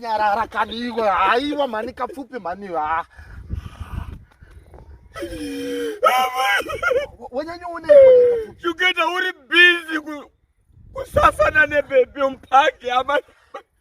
nyarara kani iwe haiwa mhani kapfupi mhani ha wanyanyooneuketa uri bizi kusasana nebebi mpaki amai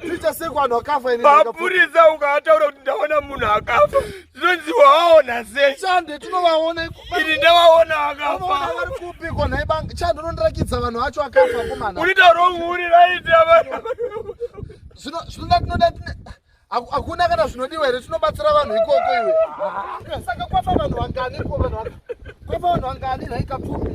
Ticha sei kwanhu akafa ini. Mapurisa ukataura kuti ndaona munhu akafa. Zvinonzi waona sei? Chande tinovaona ikuba. Ini ndawaona akafa. Unoona vari kupi ko nhai banga. Chande unondirakidza vanhu vacho akafa kumana. Uri ta wrong uri right ava. Zvino zvinoda tinoda hakuna kana zvinodiwa here tinobatsira vanhu ikoko iwe ah, saka kwafa vanhu vangani ko vanhu kwafa vanhu vangani nhaikapfupi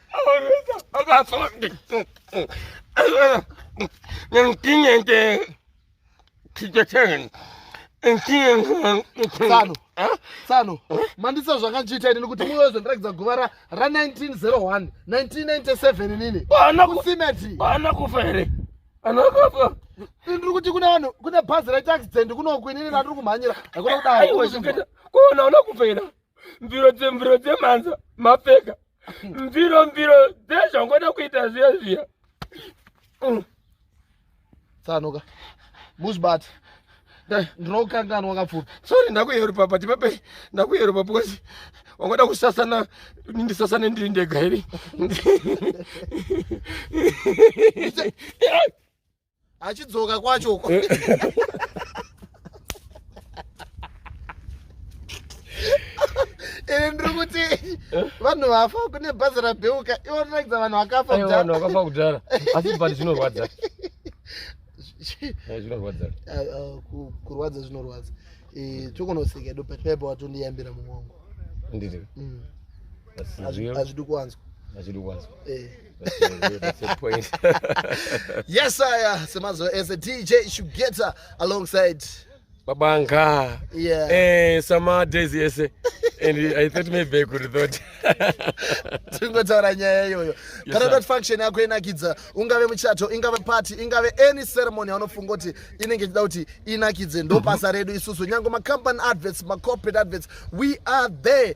tsano tsano mandisa zvakandichiita inini kuti muwe wezondirakidza guva ra1901 1997 inini kusimeti ana kufa here ana kufa ndiri kuti kune vanhu kune bhazi retaxident kunoku inini ratiri kumhanyira hakuna kudai kuona una kufa here mbiro dzembiro dzemhanza mapfeka mbiro mbiro dzezvangoda kuita zviya zviya mm. tsanoka busbat ndinokanganwa kapfupi sori ndakuyerupa but pape ndakuyerupa because wangoda kusasana ndisasane ndiri ndega here achidzoka kwacho uko ini ndiri kuti vanhu vafa kune bhazi rabheuka ivo rinorakidza vanhu vakafa Aiwa, vanhu vakafa kudhara asi but zvinorwadza Eh, zvinorwadza Ah, ah, ku- kurwadza zvinorwadza Eh, tokunoseka edu but paipa watondiyambira mumwe wangu ndiri Mm, hazvi- hazvidi kuwanzwa hazvidi kwanzwa Eh. yes aya semazuva ese dj shugeta alongside babanga yeah. eh, sama days ese and i thought maybe i could thought tingotaura nyaya iyoyo kana dot function yako inakidza ungave muchato ingave party ingave any ceremony anofunga kuti inenge ichida kuti inakidze ndobasa redu isusu nyange macompany adverts macorporate adverts we are there